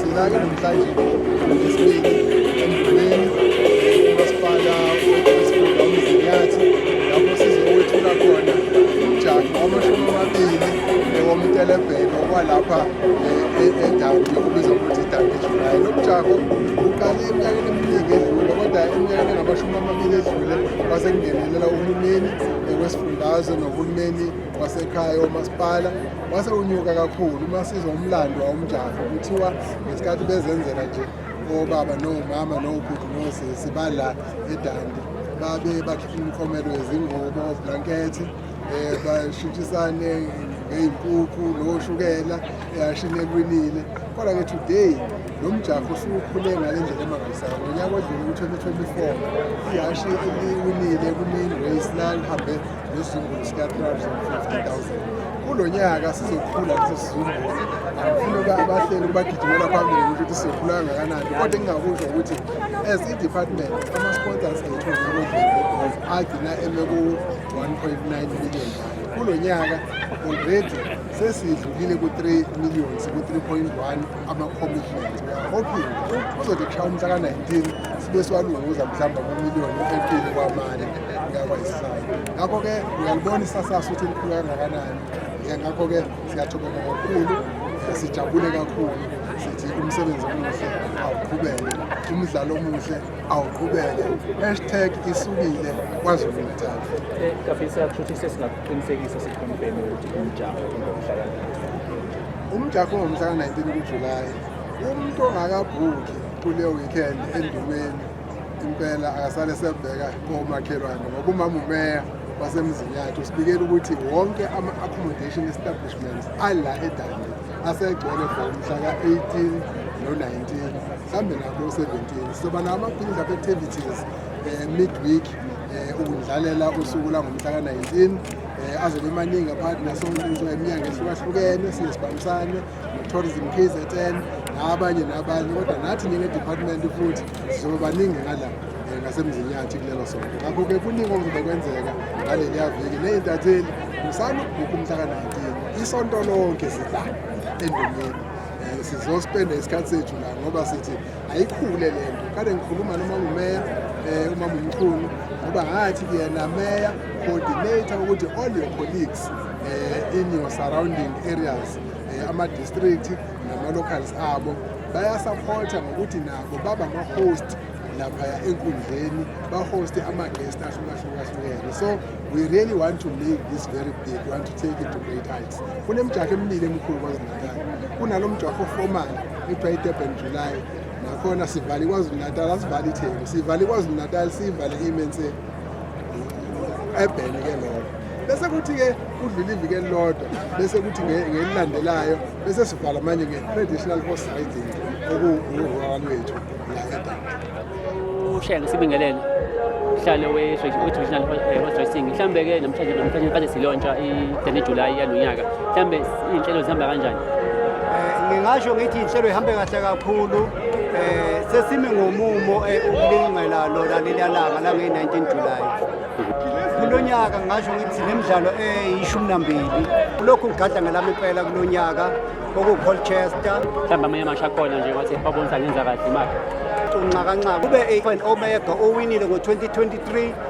Silake namhlanje ngesibili emgqibeni umasipala wesifunda umzinyathi lapho sizowethula khona umjaho wamashumi amabili newomtelebhelo kwalapha edawu yokubiza ukuthi idawu ejulayi lo mjaho uqale eminyakeni eminingi edlule kodwa eminyakeni engamashumi amabili edlule wasekungenelela uhulumeni wesifundazwe nohulumeni wasekhaya omasipala wase unyuka kakhulu uma sizwa umlando wawumjaho kuthiwa ngesikhathi bezenzela nje obaba nomama nobhuti nosisi bala edandi babe bakhipha imikhomelo yezingubo oblankethi um eh, bashintshisane ngey'nkukhu noshukela eyashini elwinile kodwa-ke today lo mjaho usukhule ngale ndlela emangalisayo ngonyaka odlule ku-2024 ihashi eliwinile kumi-race lalihambe Nesizumbulu sika-350,000 kulo nyaka sizokhula leso sizumbulu angifuna abahleli kubagijimela phambili ukuthi sizokhula kangakanani kodwa engingakusho ukuthi as i-department ama-sponsors ethu agcina eme ku-1.9 million kulo nyaka already sesidlulile ku-3 million siku-3.1 ama-commitment hoping kuzothi kushawa umhla ka-19 sibe siwalunguza mhlawumbe kumiliyoni empili kwamane ngakho-ke uyalibona isasasa ukuthi likhulu kangakanani ngakho-ke siyathokoza kakhulu sijabule kakhulu sithi umsebenzi omuhle awuqhubeke umdlalo omuhle awuqhubeke hashtag isukile kwazulu natal eh, kafisa kushuthi sesingakuqinisekisa sikhonfeme ukuthi umjaho umjaho ongomhla ka-19 kujulayi umuntu ongakabhukhi kuleyo weekend endumeni impela akasale sebheka komakhelwane ngoba umama umeya wasemzini yakhe usibikela ukuthi wonke ama-accommodation establishments ala edane asegcwele for mhla ka-18 no-19 mhlawumbe nako u-17 soba nawo ama-building up activities um midweek um ukudlalela usuku langomhla ka-19 um azobe emaningi aphakathi nasontso eminyanga ehlukahlukene siye sibambisane tourism kzn nabanye nabanye kodwa nathi njengedepartment futhi sizobe baningi ngala eh, ngasemzini yathi kulelo sonto ngakho-ke kuningi okuzobe kwenzeka ngaleliya viki ney'ntatheli musani ukubhukha umhlaka-19 isonto lonke sidla endumeni eh, sizospenda isikhathi sethu la ngoba sithi ayikhule le nto kade ngikhuluma noma ngumeya um eh, uma mumkhulu ngoba ngathi yena meya coordinator ukuthi all your colleagues um in your surrounding areas eh, ama-district nama-locals abo bayasaphotha ngokuthi nabo baba ama-host laphaya enkundleni bahoste ama-guest ahlukahlukahlukene so we really want to make this very big we want to take it to great heights kunemjaho emibili emikhulu kwazulu-natal kunalo mjaho oformal kuthiwa i-durban july nakhona sivale ikwazulu-natal asivale ithembu sivale ikwazulu-natal siyivale imense ebheni ke lokho bese kuthi-ke kudlula iviki elilodwa bese kuthi ngelilandelayo bese sivala manje nge-traditional horse riding okuwuhwaka lwethu la edaba ushaya ngesibingelele mhlalo we-traditional eh, horse racing mhlawumbe-ke namhlanje namhlanje kade silontsha i-dene july yalo nyaka mhlawumbe iy'nhlelo zihamba kanjani eh, ngingasho ngithi iy'nhlelo ihambe kahle kakhulu Eh sesimi ngomumo eh, ukulingela lona leliya langa la nge-19 July. Kulo nyaka ngasho ngithi le midlalo eyishumi nambili kulokhu ngigada ngelami impela kulo nyaka okuwucolchester mhlawumbe amanye amasho akhona nje wathi babonisa ngenza kahle imali unxakanxaka kube i-omega owinile ngo-2023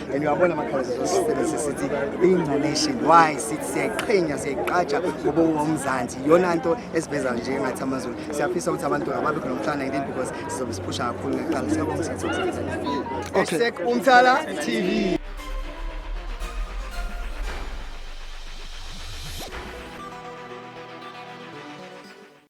and uyabona amakhaleza zosisebenzise sithi being a nation why sithi siyayiqhenya siyayiqatsha ngoba uwumzansi yona nto esiveza nje ngathi amazulu siyafisa ukuthi abantu ababe khona umhlana ngini because sizobe siphusha kakhulu ngekuqala siyabonga sithi okay umthala tv